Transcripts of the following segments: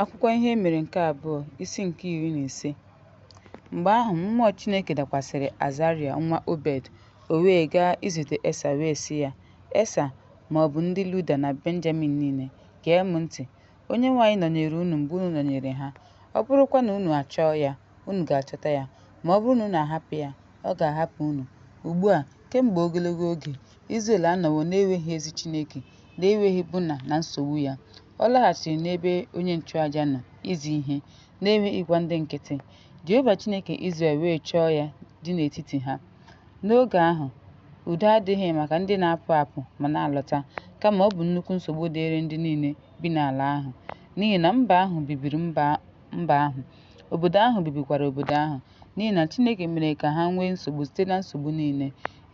Akwụkwọ Ihe Mere nke Abụọ, isi nke iri na ise Mgbe ahụ, mmụọ Chineke dakwasịrị Azaraya nwa Obed, o wee gaa izute Esa wee sị ya, Esa, ma ọ bụ ndị Luda na Benjamin niile, gee m ntị. Onyenwe anyị nọnyeere unu mgbe unu nọnyeere ha. Ọ bụrụkwa na unu achọọ ya, unu ga-achọta ya. Ma ọ bụrụ na unu ahapụ ya, ọ ga-ahapụ unu. Ugbu a, kemgbe ogologo oge, Izrel anọwo na-enweghị ezi Chineke, na-enweghị bụna na nsogbu ya. Ọ laghachiri n'ebe onye nchụaja nọ izi ihe na-enweghịkwa ndị nkịtị. Jehova Chineke Izrel wee chọọ ya dị n'etiti ha. N'oge ahụ, udo adịghị maka ndị na-apụ apụ ma na-alọta, kama ọ bụ nnukwu nsogbu dịịrị ndị niile bi n'ala ahụ, n'ihi na mba ahụ bibiri mba ahụ, obodo ahụ bibikwara obodo ahụ, n'ihi na Chineke mere ka ha nwee nsogbu site na nsogbu niile.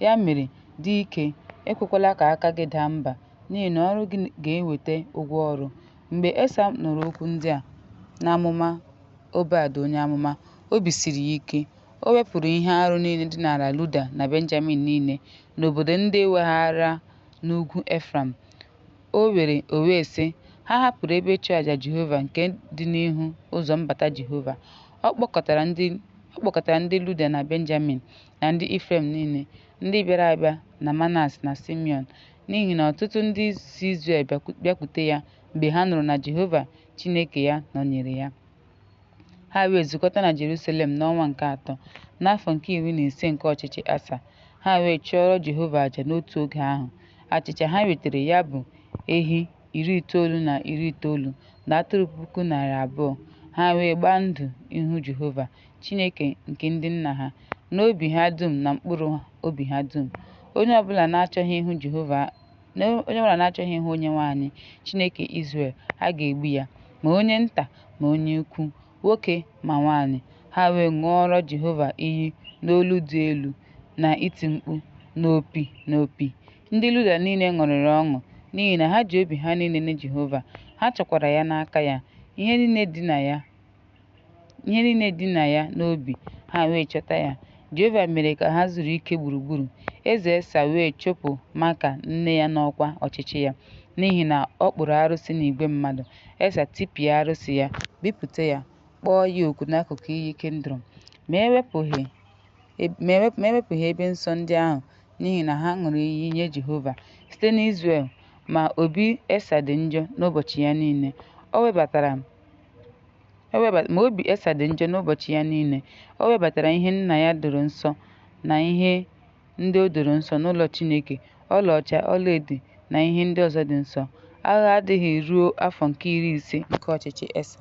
Ya mere, dị ike, ekwekwala ka aka gị daa mba. n'ihi na ọrụ gị ga-eweta ụgwọ ọrụ. Mgbe Esa nụrụ okwu ndị a na amụma Obed onye amụma, obi siri ya ike. O wepụrụ ihe arụ niile dị n'ala Luda na Benjamin niile, n'obodo ndị e weghaara n'ugwu Efraim. O were o wee sị ha hapụrụ ebe ịchụaja Jehova nke dị n'ihu ụzọ mbata Jehova. Ọ kpọkọtara ndị Luda na Benjamin na ndị Ifrem niile, ndị bịara abịa na Manas na Simiọn, n'ihi na ọtụtụ ndị si Izrel bịakwute ya mgbe ha nụrụ na Jehova Chineke ya nọnyere ya. Ha wee zukọta na Jerusalem n'ọnwa nke atọ, n'afọ nke iri na ise nke ọchịchị Asa. Ha wee chụọrọ Jehova aja n'otu oge ahụ. Achịcha ha wetara ya bụ ehi iri itoolu na iri itoolu na atụrụ puku narị abụọ. Ha wee gbaa ndụ ihu Jehova Chineke nke ndị nna ha, n'obi ha dum na mkpụrụ obi ha dum. Onye ọbụla na-achọghị ịhụ Onyenwe anyị, Chineke Izrel, a ga-egbu ya, ma onye nta ma onye ukwu, nwoke ma nwaanyị. Ha wee ṅụọrọ Jehova iyi n'olu dị elu na iti mkpu na opi na opi. Ndị Luda niile ṅụrịrị ọṅụ n'ihi na ha ji obi ha niile nye Jehova, ha chọkwara ya n'aka ya, ihe niile dị na ya ihe niile dị na ya n'obi ha wee chọta ya jehova mere ka ha zuru ike gburugburu eze esa wee chụpụ Maaka nne ya n'ọkwa ọchịchị ya n'ihi na ọ kpụrụ arụsị n'igwe mmadụ esa tipịa arụsị ya bipụta ya kpọọ ya ọkụ n'akụkụ iyi Kindrom ma ewepụghị ebe nsọ ndị ahụ n'ihi na ha ṅụrụ iyi nye Jehova site n'Izrel ma obi Esa dị njọ n'ụbọchị ya niile. O webatara ma obi Esa dị njọ n'ụbọchị ya niile. O webatara ihe nna ya doro nsọ na ihe ndị o doro nsọ n'ụlọ Chineke, ọlaọcha, ọlaedo na ihe ndị ọzọ dị nsọ. Agha adịghị ruo afọ nke iri ise nke ọchịchị Esa.